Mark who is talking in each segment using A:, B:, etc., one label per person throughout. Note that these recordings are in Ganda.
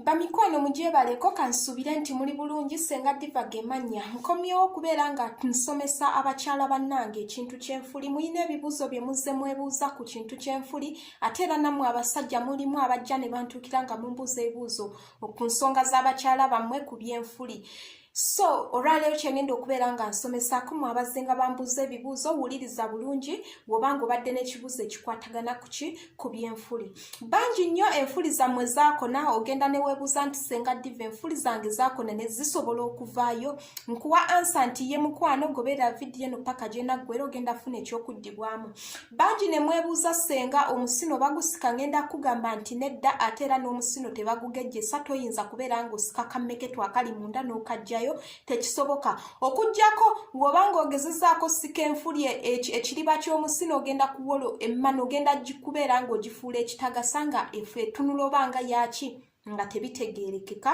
A: bamikwano mugyebaleko kansubire nti muli bulungi senga diva gemanya nkomyewo okubeera nga nsomesa abakyala bannange ekintu kyenfuli mulina ebibuuzo bye muzze mwebuuza ku kintu kyenfuli ate era nammwe abasajja mulimu abajja ne bantuukira nga mumbuuza ebibuuzo ku nsonga z'abakyala bammwe ku byenfuli so olwaleero kyengenda okubeera nga nsomesaako mu abazinga bambuuza ebibuuzo wuliriza bulungi woba nga obadde n'ekibuuzo ekikwatagana kuki ku byenfuli bangi nnyo enfuli zammwe zaakona ogenda neweebuuza nti senga diva enfuli zange zaakona ne zisobola okuvaayo nkuwa ansa nti ye mukwano gobeera vidiyo eno paka gyenaggwera ogenda funa ekyokuddibwamu bangi ne mwebuuza ssenga omusino bagusika ngenda kugamba nti nedda ate era n'omusino tebagugejjesa toyinza kubeera ng'osika kammeketw akali munda n'okajjayo tekisoboka okugyako ng'oba ng'ogezezaako sika enfuli e, e, ekiriba ky'omusino ogenda kuwolo emmana ogenda kubeera ng'ogifuula ekitagasa nga efe etunula oba nga yaaki nga tebitegeerekeka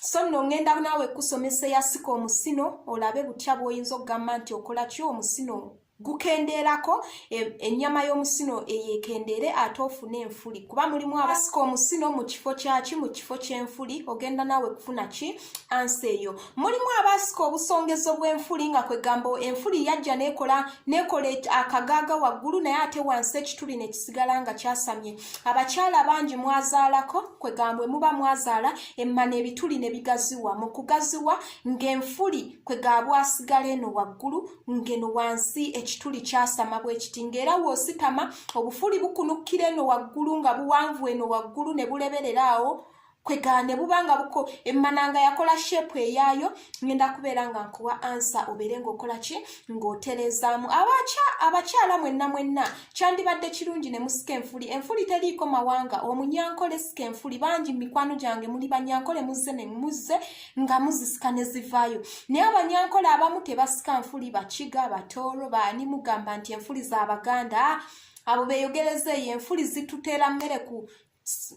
A: so nno ŋŋenda naawe kusomesa eyasika omusino olabe butya bw'oyinza okugamba nti okola ki omusino gukendeerako e, ennyama y'omusino eyo ekendeere ate ofune enfuli kuba mulimu abasika omusino mu kifo kyaki mu kifo ky'enfuli ogenda naawe kufuna ki ansi eyo mulimu abasika obusongezo bw'enfuli nga kwegamba enfuli yajja nekola nekola akagaaga waggulu naye ate wansi ekituli nekisigala nga kyasamye abakyala bangi mwazaalako kwegambwe muba mwazaala emmana ebituli ne bigaziwa mu kugaziwa ng'enfuli kwegaabwa asigala eno waggulu ng'eno wansi ekituli kyasama bwekiti ng'era wositama obufuli bukunukkira eno waggulu nga buwanvu eno waggulu ne buleberera awo kwegane buba nga buko emmananga yakola shepu eyaayo ngenda kubeera nga nkuwa ansa obeere ngaokola ki ng'otereezaamu abakyala mwenna mwenna kyandibadde kirungi ne musika enfuli enfuli teriiko mawanga omunyankole sika enfuli bangi mu mikwano gyange muli banyankole muzze ne muzze nga muzisika ne zivaayo naye abanyankole abamu tebasika nfuli bakiga batooro baani mugamba nti enfuli za baganda abo beeyogereza eyo enfuli zitutera mmere ku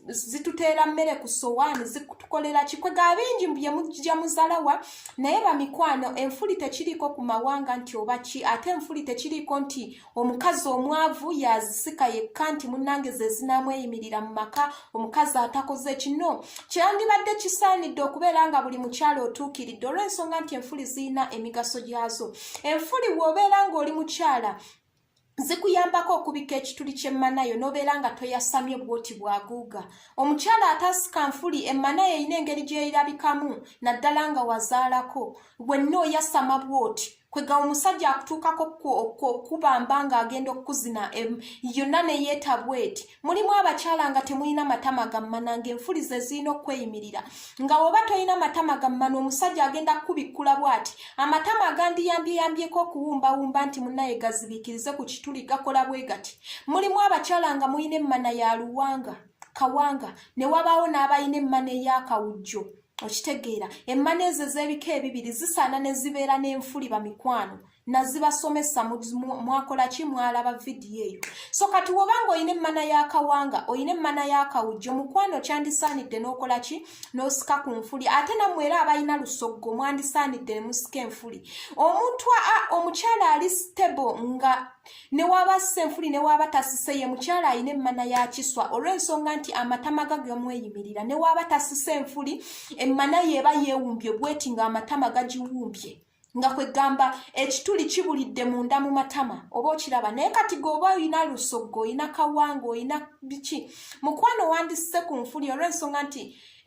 A: zituteera mmere ku sowaani zitukolera kikwega bingi bye mujja muzalawa naye bamikwano enfuli tekiriiko ku mawanga nti oba ki ate enfuli tekiriiko nti omukazi omwavu yazisika yekka nti munnange ze zinamweyimirira mu maka omukazi atakoze kino kyandibadde kisaanidde okubeera nga buli mukyalo otuukiridde olw'ensonga nti enfuli zirina emigaso gyazo enfuli woobeera ng'oli mukyala zikuyambako okubika ekituli ky'emmanayo n'obeera nga toyasamye bwoti bwaguuga omukyala ataasika nfuli emmanayo erina engeri gy'erabikamu naddala nga wazaalako wenna oyasama bwoti kwega omusajja akutuukako okubamba ng'agenda okukuzina yonna ne yeeta bweti mulimu abakyala nga temulina matama gammana ng'enfulize zirina okweyimirira nga woba tolina matama gammana omusajja agenda kukubikkula bw'ati amatama agandiyambyeyambyeko okuwumbawumba nti munaye gazibikirize ku kituli gakola bwe gati mulimu abakyala nga mulina emmana ya luwanga kawanga ne wabaawo n'abalina emmana ey'akawujjo okitegeera emmana ezo ez'ebika ebibiri zisaana ne zibeera n'enfuli bamikwano nazibasomesa mwakola ki mwalaba vidiyo eyo so kati woba nga olina emmana y'akawanga olina emmana y'akawujjo mukwano kyandisaanidde n'okola ki n'osika ku nfuli ate nammwe era abalina lusoggo mwandisaanidde ne musika enfuli omuntu omukyala ali stable nga newaaba assa enfuli newaaba tasise ye mukyala alina emmana ya kiswa olw'ensonga nti amatama ga gemweyimirira newaaba tasise enfuli emmana yeeba yeewumbye bweti nga amatama gagiwumbye nga kwegamba ekituli kibulidde munda mu matama oba okiraba naye kati geoba olina lusoggo olina kawanga olina biki mukwano wandisse ku nfuli olw'ensonga nti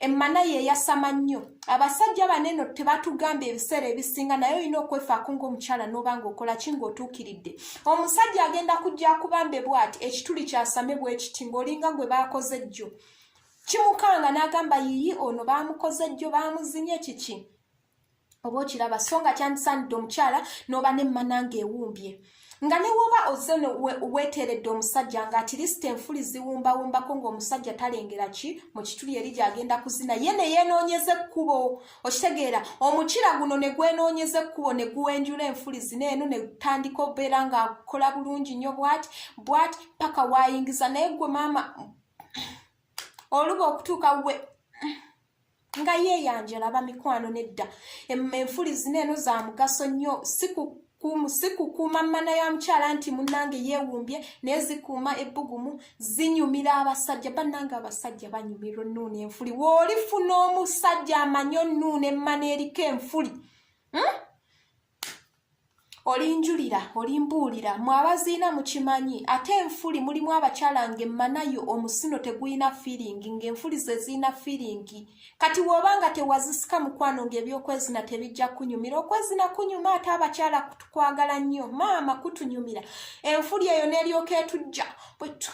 A: emmana ye eyasama nnyo abasajja baneno tebatugamba ebiseera ebisinga naye olina okwefaako ng'omukyala n'oba ng'okola ki ng'otuukiridde omusajja agenda kujja kubambe bwati ekituli kyasame bwekiti ng'olinga gwe baakoze jjo kimukanga n'agamba yiyi ono baamukoze jjo baamuzinye kiki oba okiraba so nga kyandisaanidde omukyala n'oba nemmana ng'ewumbye nga ne woba ozze no weeteeredde omusajja nga atirisita enfuli ziwumbawumbako ng'omusajja talengera ki mu kituli eri gy'agenda kuzina ye ne yeenoonyeza ekkubo okitegeera omukira guno ne gwenoonyeza ekkubo ne guwenjula enfuli zina eno ne tandika obeera ng'akola bulungi nnyo bwati bwati paka waayingiza naye gwe maama oluba okutuuka we nga yeeyanjala abamikwano nedda enfuli zina eno za mugaso nnyo sikukuuma mmana ya mukyala nti munnange yeewumbye naye zikuuma ebbugumu zinyumira abasajja bannange abasajja banyumira onnuuna enfuli woolifuna omusajja amanyi onnuuna emmana eriko enfuli hmm? olinjulira olimbuulira mwe abaziina mukimanyi ate enfuli mulimu abakyala nga emmanayo omusino tegulina fiiringi ng'enfuli ze zirina fiiringi kati wooba nga tewazisika mukwano ng'ebyokwezina tebijja kunyumira okwezina kunyuma ate abakyala kutukwagala nnyo maama kutunyumira enfuli eyo n'eryoka etujja bwetu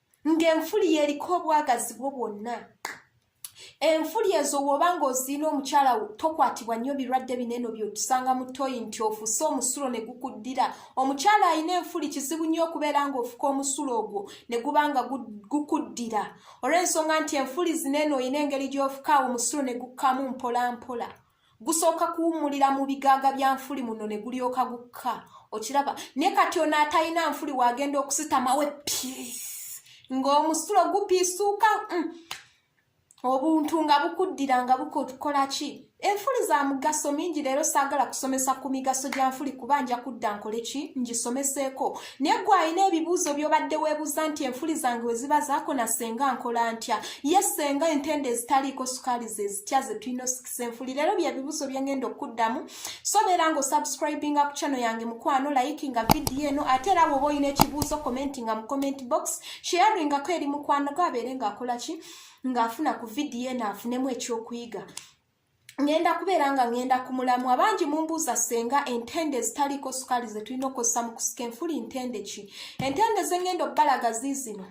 A: ng'enfuli yeriko obwagazi bwo bwonna enfuli ezo woba nga oziina omukyala tokwatibwa nnyo birwadde bineeno byotusanga mu toyi nti ofuse omusulo ne gukuddira omukyala alina enfuli kizibu nnyo okubeera ng'ofuka omusulo ogwo ne guba nga gukuddira olw'ensonga nti enfuli zineeno olina engeri gy'ofuka awo omusulo ne gukkamu mpola mpola gusooka kuwummulira mu bigaaga bya nfuli muno ne gulyoka gukka okiraba naye kati ono atalina nfuli waagenda okusitamawe piisi ng'omusulo gupiisuuka mm. obuntu nga bukuddira nga bukola ki enfuli za mugaso mingi leero saagala kusomesa ku migaso gya nfuli kuba nja kudda nkole ki ngisomeseeko naye gwe alina ebibuuzo byobadde weebuuza nti enfuli zange we ziba zaakona senga nkola ntya ye senga entende ezitaliiko sukaali ze zitya ze tulina osikisa enfuli leero bye bibuuzo bye ngenda okuddamu sobeera nga osubscribinga ku chano yange mukwano layikinga vidiyo eno ate era woba olina ekibuuzo commentinga mu comment box sharingako eri mukwano gwe abeere ng'akola ki ng'afuna ku vidiyo eno afunemu ekyokuyiga ngenda kubeera nga ngenda ku mulamu abangi mumbuuza senga entende ezitaliiko sukaali ze tulina okukozesa mu kusika enfuli ntende ki entende zengenda okubalaga ziizino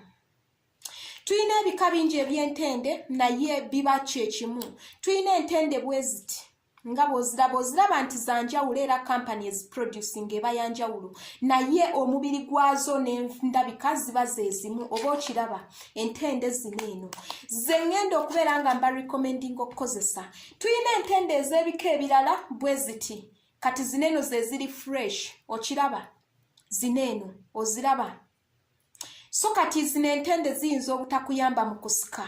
A: tulina ebika bingi ebyentende naye biba kyekimu tulina entende bweziti nga bwoziraba oziraba nti zanjawulo era kampani eziproducing eba yanjawulo naye omubiri gwazo nendabika ziba zezimu oba okiraba entende zino eno ze ŋŋenda okubeera nga mba recommending okukozesa tulina entende ez'ebika ebirala bwe ziti kati zino eno ze ziri fresh okiraba zino eno oziraba so kati zino entende ziyinza obutakuyamba mu kusika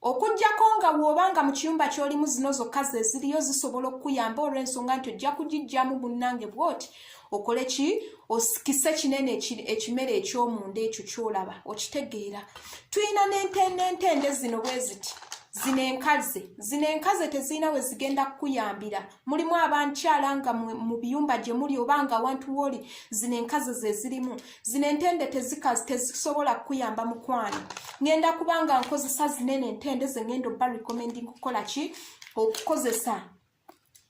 A: okujjako nga wooba nga mu kiyumba ky'olimu zino zokka ze ziriyo zisobola okukuyamba olw'ensonga nti ojja kugijjamu munnange bwoti okole ki osikise kinene ekimere ekyomunda ekyo kyolaba okitegeera tulina nentendentende zino bweziti zino enkaze zino enkaze tezirina we zigenda kukuyambira mulimu abankyala nga mu biyumba gye muli oba nga awantu wooli zino enkaze ze zirimu zino entende tezikazi tezisobola kukuyamba mukwano ŋenda kubanga nkozesa zinene entende ze ŋenda obba recommending kukola ki okukozesa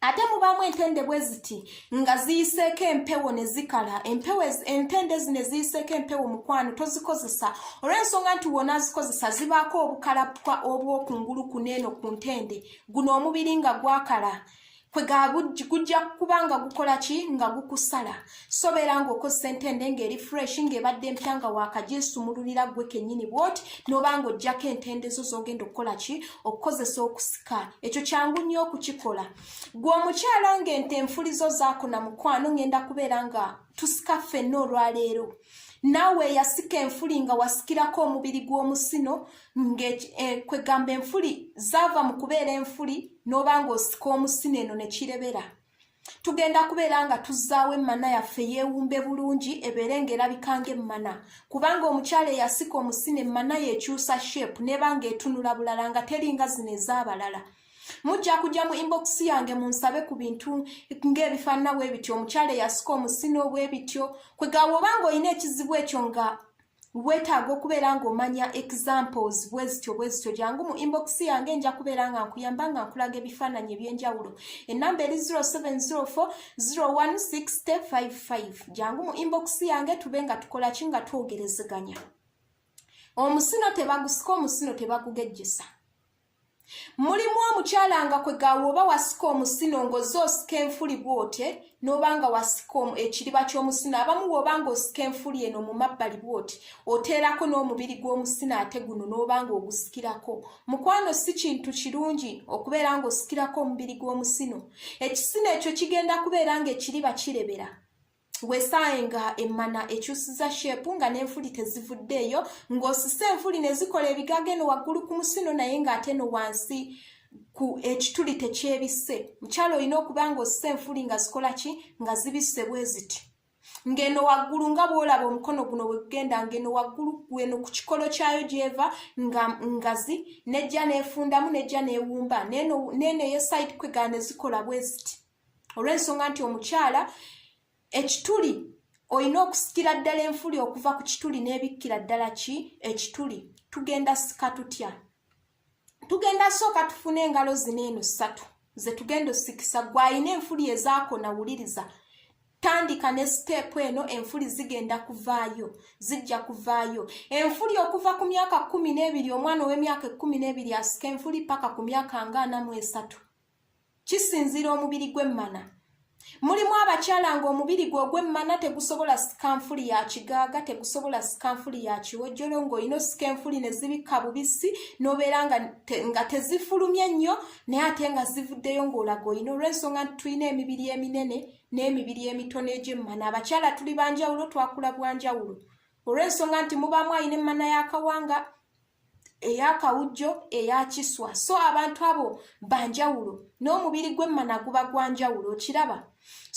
A: ate mubaamu entende bwe ziti nga ziyiseeko empewo ne zikala empewo entende zi ne ziyiseeko empewo mukwano tozikozesa olw'ensonga nti wona azikozesa zibaako obukalapwa obw'okungulu ku neeno ku ntende guno omubiri nga gwakala kwe ga gujja kuba nga gukola ki nga gukusala sobeera ng'okozesa entende ng'eri fresh ng'ebadde empya nga waakaginsumululira ggwe kennyini bwoti n'oba ng'oggyako entende zo z'ogenda okukola ki okukozesa okusika ekyo kyangu nnyo okukikola gwe omukyala ng'ente enfulizo zaakuna mukwano ng'enda kubeera nga tusika ffenna olwaleero naawe eyasika enfuli nga wasikirako omubiri gw'omusino ngakwegamba eh, enfuli zaava mu kubeera enfuli n'oba ng'osika omusino eno ne kirebera tugenda kubeera nga tuzzaawo emmana yaffe yeewumbe bulungi ebeere ng'erabika ng'emmana kubanga omukyala eyasika omusina emmana yeekyusa shape neeba ng'etunula bulala nga teri nga zino ez'abalala mujja kujja mu inbox yange munsabe ku bintu ng'ebifaanana bwe bityo omukyala eyasika omusina obwe bityo kwegawa obanga olina ekizibu ekyo nga weetaaga okubeera ng'omanya examples bwezityo bwezityo jangu mu inbox yange nja kubeera nga nkuyamba nga nkulaga ebifaananyi eby'enjawulo enamba eri 0704016055 jangu mu inbox yange tube nga tukola ki nga twogerezeganya omusino tebagusika omusino tebagugejjesa mulimu omukyala nga kwe gaawa oba wasika omusino ng'oze osika enfuli bwotye n'oba nga wasika ekiriba ky'omusino abamu bw'oba nga osika enfuli eno mu mabbali bwoti oteerako n'omubiri gw'omusino ate guno n'oba nga ogusikirako mukwano si kintu kirungi okubeera ng'osikirako omubiri gw'omusino ekisino ekyo kigenda kubeera ng'ekiriba kirebera wesaaye nga emmana ekyusiza sheepu nga n'enfuli tezivuddeeyo ng'osise enfuli ne zikola ebigaga eno waggulu ku musino naye ng'ate no wansi ku ekituli tekyebisse mukyalo olina okuba ng'osise enfuli nga zikola ki nga zibisse bwe ziti ng'eno waggulu nga bw'olaba omukono guno bwe gugenda ng'eno waggulu gweno ku kikolo kyayo gy'eva nga ngazi n'ejja n'efundamu n'ejja n'ewumba n'eno eyo side kwegana ne zikola bwe ziti olw'ensonga nti omukyala ekituli olina okusikira ddala enfuli okuva ku kituli n'ebikkira ddala ki ekituli tugenda sika tutya tugenda sooka tufuna engalo zino eno ssatu ze tugenda osikisa gwe alina enfuli ezaakona wuliriza tandika ne siteepu eno enfuli zigenda kuvaayo zijja kuvaayo enfuli okuva ku myaka kumi n'ebiri omwana ow'emyaka ekkumi n'ebiri asika enfuli paka ku myaka nga ana mu esatu kisinziira omubiri gw'emmana mulimu abakyala nga omubiri gwe ogw'emmana tegusobola sika nfuli ya kigaaga tegusobola sika nfuli ya kiwojjolo ng'olina osika enfuli ne zibikka bubisi n'obeera nga tezifulumye nnyo naye ate nga zivuddeyo ng'olaga olina olw'ensonga nti tulina emibiri eminene n'emibiri emitono egy'emmana abakyala tuli banjawulo twakula bwanjawulo olw'ensonga nti mubaamu alina emmana y'akawanga eya kawujjo eya kiswa so abantu abo banjawulo n'omubiri gw'emmana guba gwa njawulo okiraba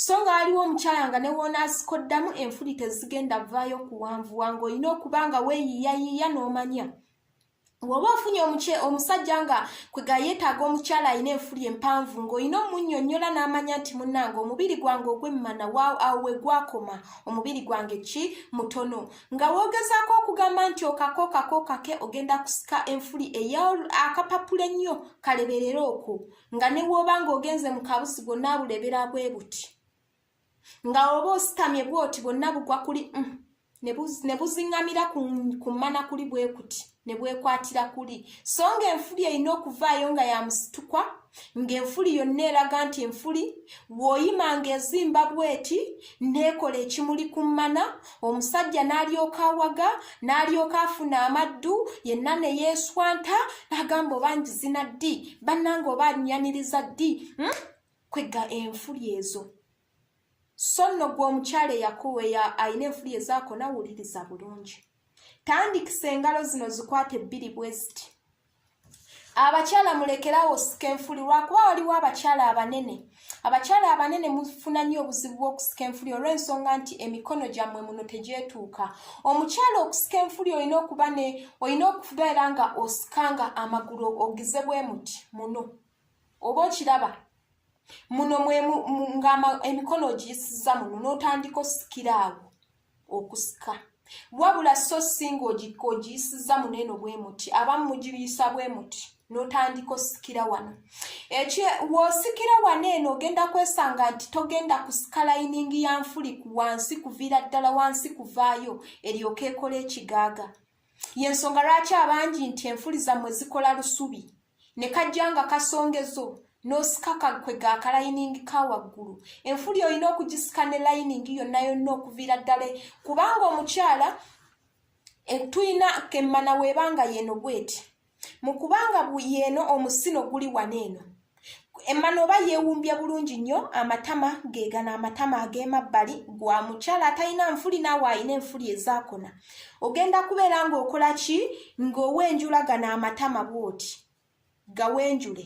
A: so nga waliwo omukyala nga ne woonaasika oddamu enfuli tezigenda vaayo okuwanvuwa ng'olina okuba nga weeyiiyayiiya n'omanya woba ofunye omuky omusajja nga kwega yeetaaga omukyala alina enfuli empanvu ng'olina omunnyonnyola n'amanya nti munnange omubiri gwange ogwemmana waawo awo we gwakoma omubiri gwange ki mutono nga woogezaako okugamba nti okako kako kake ogenda kusika enfuli eya akapapula ennyo kaleberera okwo nga ne wooba ng'ogenze mu kabusi gwonna abulebera bwe buti nga oba ositamye bwoti bwonna bugwa kuli mm, ne buziŋŋamira ku mmana kuli bwe kuti ne bwekwatira kuli so ng'enfuli erina okuvaayo nga ya musitukwa ng'enfuli yonna eraga nti enfuli w'oyima ng'ezimba bweti n'ekola ekimuli ku mmana omusajja n'alyoka awaga n'alyoka afuna amaddu yenna ne yeeswanta n'agamba oba ngizina ddi bannanga oba anyaniriza ddi hmm? kwegga enfuli ezo so nno gwe omukyala eyakuwa eya alina enfuli ezaako nawuliriza bulungi tandikisa engalo zino zikwate bbiri bwe ziti abakyala mulekerawo osika enfuli lwakuba waliwo abakyala abanene abakyala abanene mufuna nnyo obuzibu bw'okusika enfuli olw'ensonga nti emikono gyammwe muno tegyetuuka omukyala okusika enfuli olina okuba ne olina okubeera nga osikanga amagulu ogize bwe muti muno oba okiraba muno nga emikono ogiyisiza muno n'otandika osikira awo okusika wabula so si ngaogiyisiza muno eno bwe muti abamu mugiyisa bwe muti n'otandika osikira wano ekyo w'osikira wano eno ogenda kwesanga nti togenda kusika layiningi ya nfuli ku wansi kuviira ddala wansi kuvaayo eryoka ekola ekigaaga yensonga lwaki abangi nti enfuli zammwe zikola lusubi ne kajja nga kasongezo n'osikaka kwe ga kalayiningi ka waggulu enfuli olina okugisika ne layiningi yonna yonna okuviira ddala kubanga omukyala eh, tulina kemmana weebanga yeno bweti mu kubanga yeeno omusino guli wano eno emmana oba yeewumbya bulungi nnyo amatama geegana amatama ag'emabbali gwa mukyala atalina nfuli naawe alina enfuli ezaakona ogenda kubeera ng'okola ki ng'owenjulagana amatama bw'oti gawenjule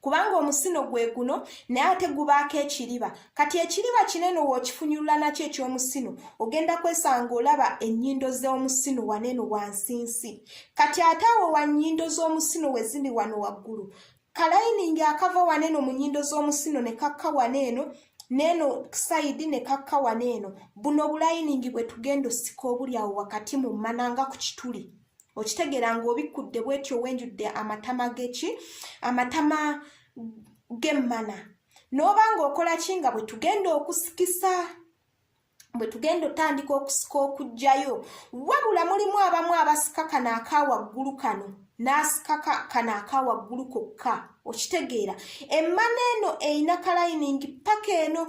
A: kubanga omusino gwe guno naye ate gubaako ekiriba kati ekiriba kinene wookifunyulula nakyo ekyomusino ogenda kwesanga olaba ennyindo z'omusino waneno wansinsi kati ate awo wa nnyindo z'omusino wezindi wano waggulu kalayiningi akava waneno mu nnyindo z'omusino ne kakka waneeno neeno sayidi ne kakka waneeno buno obulayiningi bwe tugenda osika obuli awo wakati mu mmana nga ku kituli okitegeera ng'obikkudde bwetyo wenjudde amatama geki amatama g'emmana n'oba ng'okola ki nga bwe tugenda okusikisa bwe tugenda otandika okusika okugjayo wabula mulimu abamu abasika kano aka waggulu kano n'asika kano aka waggulu kokka okitegeera emmana eno erina kalayiningi paka eno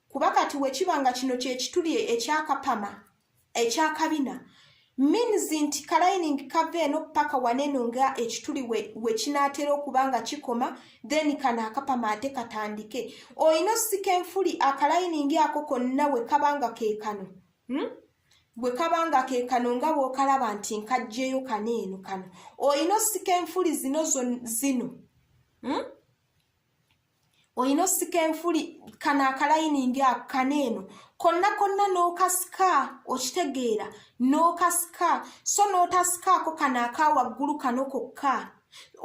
A: kuba kati wekiba nga kino kyekituli ekyakapama ekyakabina means nti kalining kava eno paka waneno nga ekituli wekinatera we okuba nga kikoma then kano akapama ate katandike olina osika enfuli akalining ako konna wekaba nga kekano hmm? wekaba nga kekano nga bwokalaba nti nkajjeyo kano eno kano olina osika enfuli zino zino hmm? olina osika enfuli kano akalayiningi ako kana eno konna konna n'okasika okitegeera n'okasika so n'otasikaako kano aka waggulu kano kokka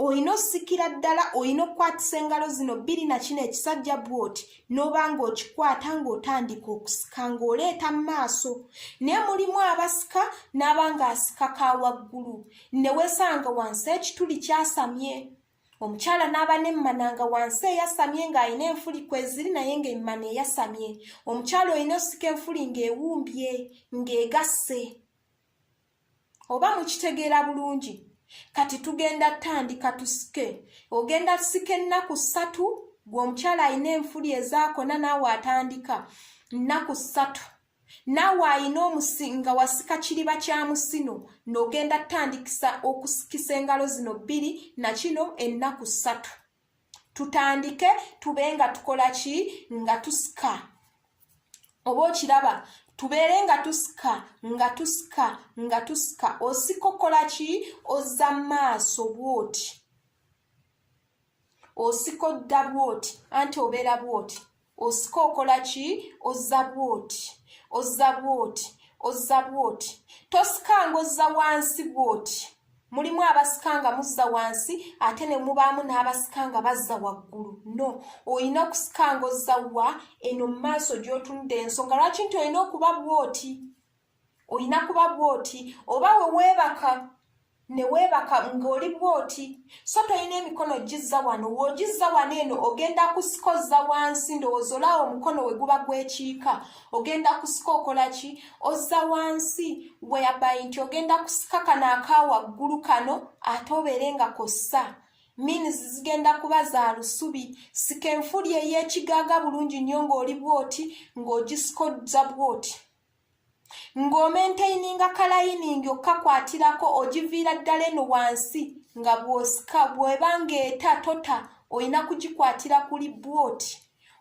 A: olina osikira ddala olina okukwatisa engalo zino bbiri na kino ekisajja bwoti n'oba ng'okikwata ng'otandika okusika ng'oleeta mu maaso naye mulimu abasika n'aba ng'asika ka waggulu ne weesanga wansi ekituli kyasamye omukyala n'aba n'emmana nga wansi eyasamye ng'alina enfuli kweziri naye ng'emmana eyasamye omukyala olina osika enfuli ng'ewumbye ng'egasse oba mukitegeera bulungi kati tugenda tandika tusike ogenda tusika ennaku ssatu gwe omukyala alina enfuli ezaakona naawe atandika nnaku ssatu naawe ayina omusi nga wasika kiriba kya musino nogenda tutandikisa okusikisa engalo zino bbiri nakino ennaku ssatu tutandike tube nga tukola ki nga tusika oba okiraba tubeere nga tusika nga tusika nga tusika osika okola ki ozza maaso bwoti osika odda bwoti anti obeera bwoti osika okola ki ozza bwoti ozza bwoti ozza bwoti tosikanga ozza wansi bwoti mulimu abasikanga muzza wansi ate ne mubaamu n'abasikanga bazza waggulu no olina okusikanga ozza wa eno mu maaso gy'otunudde ensonga lwaki nti olina okuba bwoti olina kuba bwoti oba we weebaka ne weebaka ng'oli bwoti so tolina emikono gizza wano w'ogizza wano eno ogenda kusikozza wansi ndowooza olaawo omukono we guba gwekiika ogenda kusika okola ki ozza wansi weabayi nti ogenda kusika kano aka waggulu kano ate obeere nga kossa means zigenda kuba za lusubi sika enfuli ey'ekigaaga bulungi nnyo ng'oli bwoti ng'ogisikozza bwoti ng'omentaininga kalayiningi okukakwatirako ogiviira ddala eno wansi nga bw'osika bw'eba ng'eta tota olina kugikwatira kuli bwoti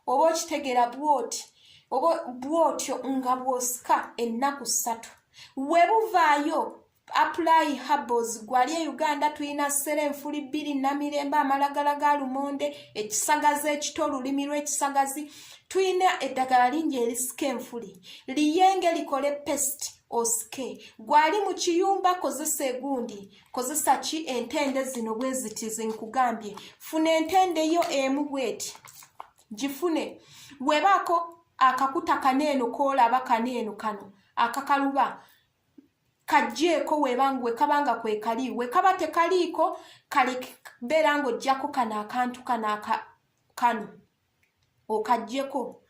A: oba okitegeera bwoti oba bwotyo nga bw'osika ennaku ssatu we buvaayo apply herbals gwali e uganda tulina sera enfuli bbiri namirembe amalagala ga lumonde ekisagazi ekito olulimi lw'ekisagazi tulina eddagala lingi erisika enfuli liyenge likole pest osike gwali mu kiyumba kozesa egundi kozesa ki entende zino bwezitizi nkugambye funa entende yo emu bweti gifune webaako akakuta kaneeno koolaba kaneeno kano akakaluba kajjeeko webangu wekabanga kwekali wekaba tekaliiko kali beera nga ojjako kano akantu kano kano okajjeko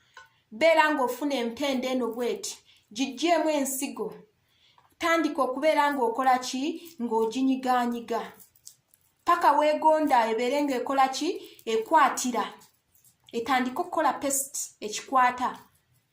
A: beera nga ofuna empenda eno bweti gijjeemu ensigo tandika okubeera nga okola ki ng'oginyiganyiga paka wegonda ebeere nga ekola ki ekwatira etandika okukola pest ekikwata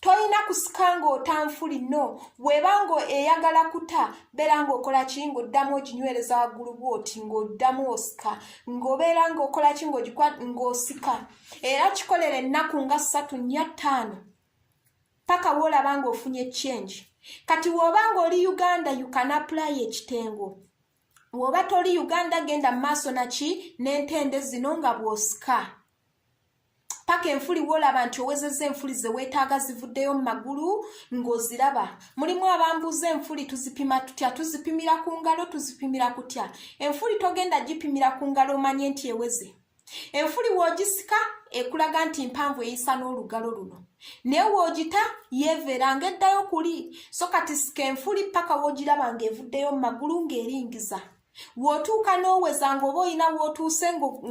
A: tolina kusika ng'otanfuli no bweba nga eyagala kuta beera ng'okola ki ng'oddamu oginywereza waggulu bwoti ng'oddamu osika ng'obeera ng'okola ki ng'ogikwa ng'osika era kikolera ennaku nga ssatu nnya ttaano paka woolaba ng'ofunye change kati wooba ng'oli uganda you can apply ekitengo woba toli uganda genda mumaaso naki nentende zino nga bwosika paka enfuli wolaba nti owezeza enfuli zewetaaga zivuddeyo mu magulu ng'oziraba mulimu abambuuza enfuli tuzipima tutya tuzipimira ku ngalo tuzipimira kutya enfuli togenda gipimira ku ngalo omanye nti eweze enfuli w'ogisika ekulaga nti mpanvu eyisa n'olugalo luno naye w'ogita yeeveera ng'eddayo kuli so kati sika enfuli paka w'ogiraba ng'evuddeyo mu magulu ng'eringiza w'otuuka n'oweza ng'oba olina w'otuuse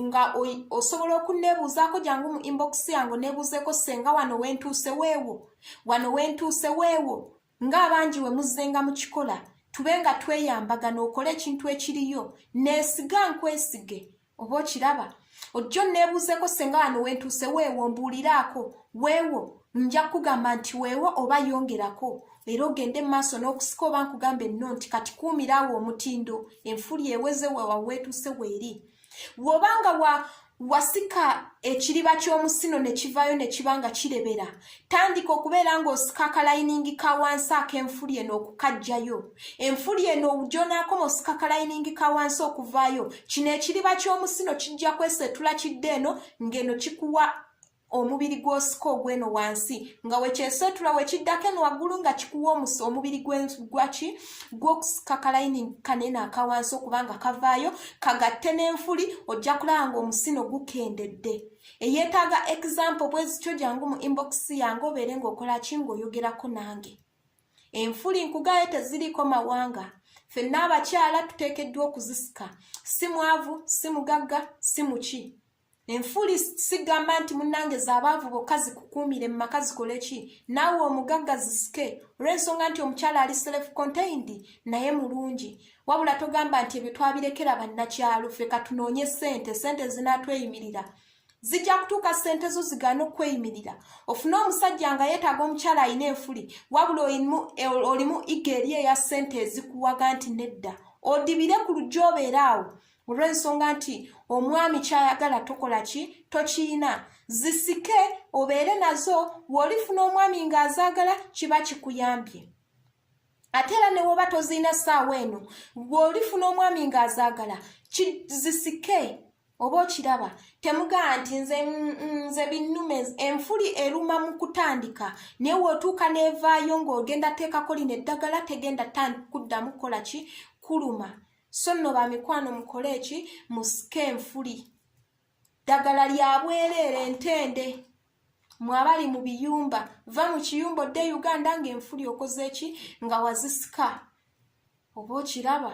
A: nga osobola okunneebuuzaako jangu mu inbox yange oneebuuzeeko ssenga wano w'entuuse weewo wano w'entuuse weewo ng'abangi we muzzenga mu kikola tube nga tweyambagana okole ekintu ekiriyo neesiga nkwesige oba okiraba ojja onneebuuzeko senga wano wentuuse weewo mbuuliraako weewo nja kukugamba nti weewo oba yongerako era ogende mu maaso n'okusika oba nkugamba enno nti kati kuumira awo omutindo enfuli eweze wewaweetuuse weeri we wobanga wa wasika ekiriba ky'omusino ne kivaayo ne kiba nga kirebera tandika okubeera ng'osika akalayiningi ka wansi ak'enfuli eno okukajjayo enfuli eno gyonaakoma osika kalayiningi ka wansi okuvaayo kino ekiriba ky'omusino kijja kwesetula kidde eno ng'eno kikuwa omubiri gw'osika ogw'eno wansi nga wekyesootula wekiddako eno waggulu nga kikuwa omusa omubiri gwaki gw'okusika kalayini kanene akawansi okubanga kavaayo kagatte n'enfuli ojja kulaba nga omusino gukendedde eyeetaaga example bwezityo jangu mu inbox yange obeere ng'okola ki ng'oyogerako nange enfuli nkugaayo teziriiko mawanga fenna abakyala tuteekeddwa okuzisika si mwavu si mugagga si muki enfuuli sigamba nti munnange zaabaavu bokka zikukuumire mu maka zikole ki naawe omugagga zisike olw'ensonga nti omukyala ali self contained naye mulungi wabula togamba nti ebyo twabirekera bannakyalo ffe katunoonye ssente ssente zinaatweyimirira zijja kutuuka ssente zo zigaana okukweyimirira ofune omusajja nga yeetaaga omukyala alina enfuli wabula olimu iga eri eya ssente ezikuwaga nti nedda odibire ku lujja obeera awo olw'ensonga nti omwami kyayagala tokola ki tokiyina zisike obeere nazo w'olifuna omwami ng'azaagala kiba kikuyambye ate era ne woba tozirina ssaawa eno bw'olifuna omwami ng'azaagala zisike oba okiraba temugaa nti nze mm, mm, nze binnume enfuli eruma mu kutandika naye wootuuka n'evaayo ng'ogenda teekako lino eddagala tegenda kuddamu kukola ki kuluma so nno ba mikwano mukole eki musike enfuli ddagala lya bwereere ntende mwabali mu biyumba va mu kiyumba odde e uganda ng'enfuli okoze eki nga wazisika oba okiraba